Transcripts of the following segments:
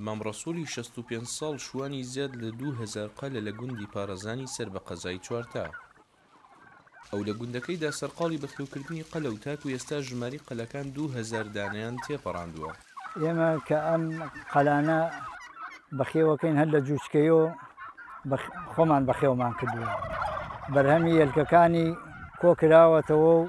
مام ڕەسووڵی شەست و پێنج ساڵ شوانی زیاد لە دوو هەزار قەلە لە گوندی پارەزانی سەر بە قەزای چوارتا. ئەو لە گوندەکەیدا سەرقاڵی بەخێوکردنی قەلە و تاکو ئێستا ژمارەی قەلەکان دوو هەزار دانەیان تێپەڕاندووە. ئێمە کە ئەم قەلانە بەخێوەکەین هەر لە جوچکەیۆ خۆمان بەخێومان کردووە. بەرهەمی یەلکەکانی کۆکراوەتەوە و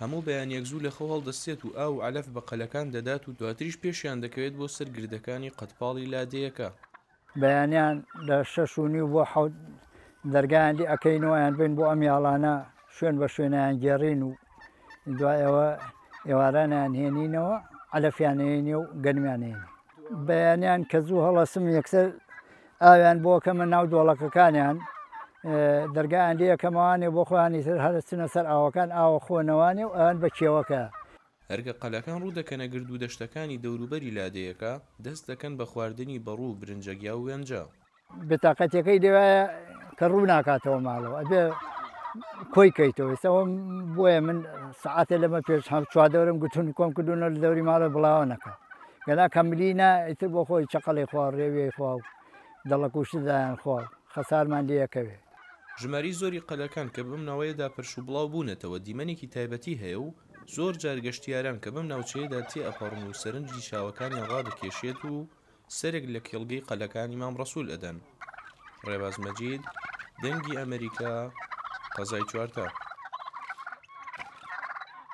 هەموو بەیانیەک زوو لەخەو هەڵدەستێت و ئاو و عەلەف بە قەلەکان دەدات و دواتریش پێشیان دەکەوێت بۆ سەر گردەکانی قەدپاڵی لادێیەکە. بەیانیان لە شەش و نیو بۆ حەوت دەرگایان لێ ئەکەین و ئەیانبەین بۆ ئەم یاڵانە، شوێن بە شوێن ئەیانگێڕین و دوای ئەوە ئێواران ئەیانهێنینەوە، عەلەفیان ئەیەینێ و گەنمیان ئەیەینێ. بەیانیان کە زوو هەڵەسم یەکسەر ئاویان بۆ ئەکەمە ناو دۆڵەکەکانیان، دەرگایان لێ ئەکەمەوانێ بۆ خۆیانی تر هەر ئەچنە سەر ئاوەکان، ئاو ئەخۆنەوانێ و ئەن بە کێوەکە. هەر کە قەلەکان ڕوو دەکەنە گرد و دەشتەکانی دەوروبەری لادێیەکە، دەست دەکەن بە خواردنی بەڕوو و برنجەگیا و وێنجە. بێتاقەتییەکەی لێوایە کە ڕوو ناکاتەوە ماڵەوە، ئەبێ کۆی کەیتەوە. ئیستا وەم بۆیە من سەعاتێ لەمە پێش هەم چواردەورم گوتن کۆم کردوونە لە دەوری ماڵێ بڵاوە نەکا. گەنا کە ملی نا ئیتر بۆ خۆی چەقەڵی خوا و ڕێویەی خوا و دەڵە کوشت دایان خوا و خەسارمان لێ ئەکەوێ. ژمارەی زۆری قەلەکان کە بەم ناوەیەدا پرش و بڵاو بوونەتەوە دیمەنێکی تایبەتی هەیە و زۆر جار گەشتیاران کە بەم ناوچەیەدا تێ ئەپەڕن و سەرنجی چاوەکانیان ڕادەکێشێت و سەرێک لە کێڵگەی قەلەکان ئیمام ڕەسول ئەدەن. ڕێباز مەجید، دەنگی ئەمەریکا، قەزای چوارتا.